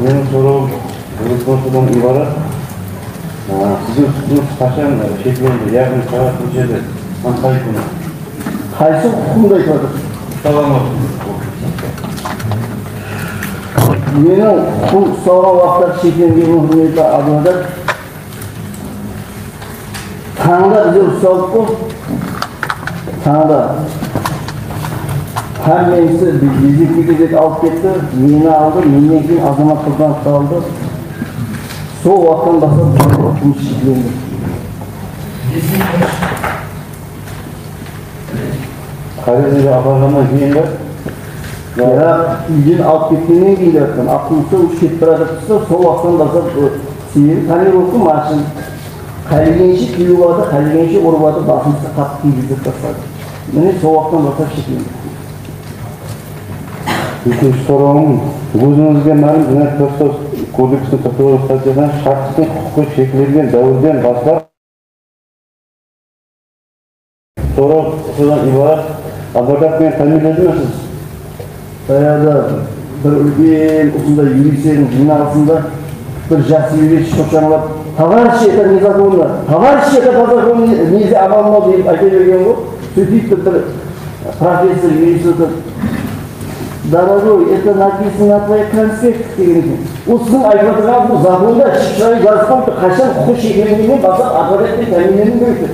Menen sorawım bul prostadan ibarat siziń tutıńız qashan sheklendi yaǵnıy saǵat neshede hám qay kúni. Qaysı huqıqımdı aytıp atırıń. Meniń huqıqım ustalǵan waqıtları sheklengenmen húrmetli advokat. Tańda bize usalıp qo, tańda hámmemizdi Bezekiyge dep alıp ketti, meni aldı, mennen keyin Azamat Qurbanovtı aldı. Sol waqıttan baslap bizde turmıs sheklendi. Poeziyaǵa aparamannan keyin be? Biraq, úyden alıp ketkennen keyin deyatırman, avtobustan ushıp ketip baratırdıs ta, sol waqıttan baslap. Sebebi Pomerovtıń marshın qálegenshe kewip aldı, qálegenshe urıp aldı, basımızdı qatı kúygizdırıp tasladı. Mine sol waqıttan baslap sheklendik deydi. Úkinshi sorawım, ózińizge málim Jınayat protsess kodeksiniń qırq toǵız stattiyasında shaxstıń huqıqı sheklengen dáwirden baslap, Sorau, Qısqadan ibarat advokat meni támiyinledi me siz? Bayaǵıda bir úlken usınday yuristerdiń jıynalısında bir jaqsı yurist shıǵıp jańalap, Tovarıshi, eta nezakonno, tovarıshi, eta po zakonu neze amalno dep ayta bergenǵo, sóytip tur bir professor yurist otırıp, Dorogoy, eta napisano na tvoyih konspektih degen eken. Ol siziń aytıp atırǵanıńız bul zakonda ashıq-shıraylı jazıp qoyıptır, qashan huqıqıy sheklengeninen baslap advokat penen támiyinleniń kerek dep.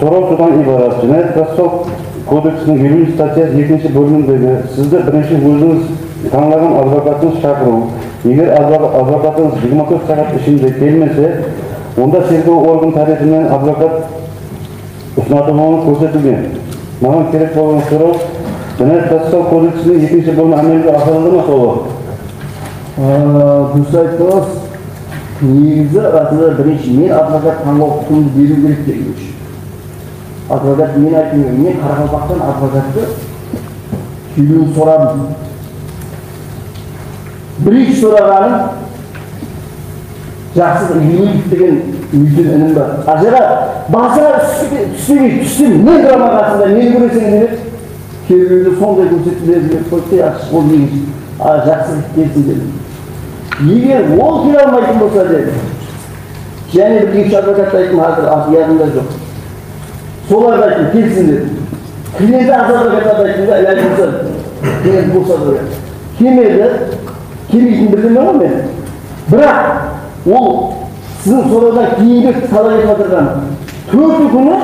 Soraw sodan ibarat, Jınayat-protsessual kodeksiniń eliw nji statyası ekinshi bólimindegi Sizdi birinshi ózińiz tańlaǵan advokatınız shaqırıw, eger advokatınız jigirma tórt saǵat ishinde kelmese, onda tergew organı tárepinen advokat usınatılıwı kórsetilgen. Maǵan kerek bolǵan soraw, Jınayat-protsessual kodeksiniń ekinshi bólimi ámelge asırıldı ma? Tolıq. Durıs ayttınız. Negizi advokat birinshi men advokat tańlaw huqımdı beriw kerek degen ósh. Advokat men aytım kerek, men Qaraqalpaqtan advokattı sóylewin soradım. Birinshi soraǵanım Jaqsız Egimeyev degen úlken inim bar. Ajara basıńa tússeǵiy, tússem men turaman qasıńda, meni kóreseń dep edi. Kerbewde sonday kórsetip belgilep qoyıptı, yaqshısı ol egin jaqsı kip kelsin dep. Eger ol kele almaytın bolsa dedi, jáne bir eki-úsh advokattı ayttım, házir atı yadımda joq. Solardı ayttım, kelsin dedim. Klienti az advokatlardı ayttım da, ilajı bolsa klienti bos advokat. Kelmedi, kelmeytinin bilemen ǵoy men. Biraq, ol siziń sorawdan keyingi talap etip atırǵan tórti kúni,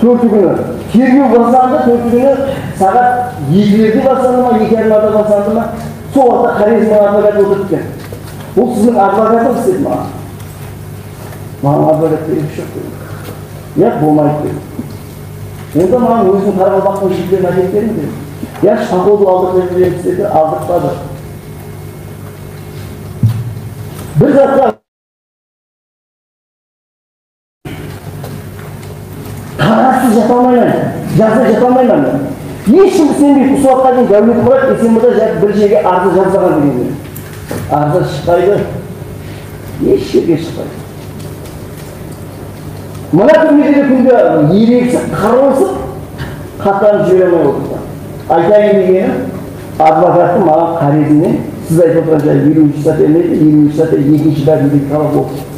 Tórti kúni tergew baslandı, tórti kúni saǵat ekilerde baslandı ma, eki yarımlarda baslandı ma, sol waqıtta Xorezmniń advokatı otırıp eken. Bul siziń advokatıńız? dedi maǵan. Maǵan advokat kerekli joq dedim. Yaq, bolmaydı dedi. Onda maǵan óziniń Qaraqalpaqtıń jigitlerin ákelip beriń dedi. Yaxshı, poxodu aldırıp berip jiberińiz dedi, aldırtpadı. Bir zatqa. Qarasız jata almayman, jazda jata almayman. Hesh kim isenbeydi, usı waqıtqa deyin Dáwleti Murat Esen mırza jazıp bir jerge arzı jazbaǵan degende. Arzı shıqpaydı, hesh jerge shıqpaydı. Mına túrmede de kúnde ereksip, qırılısıp, xatlanıp jibere almay otırdı. Aytayın degeni, advokattı maǵan qárezimnen siz aytıp otırǵan jay eliwinshi statya emedi, eliwinshi statya ekinshi bábinde talap olıptı.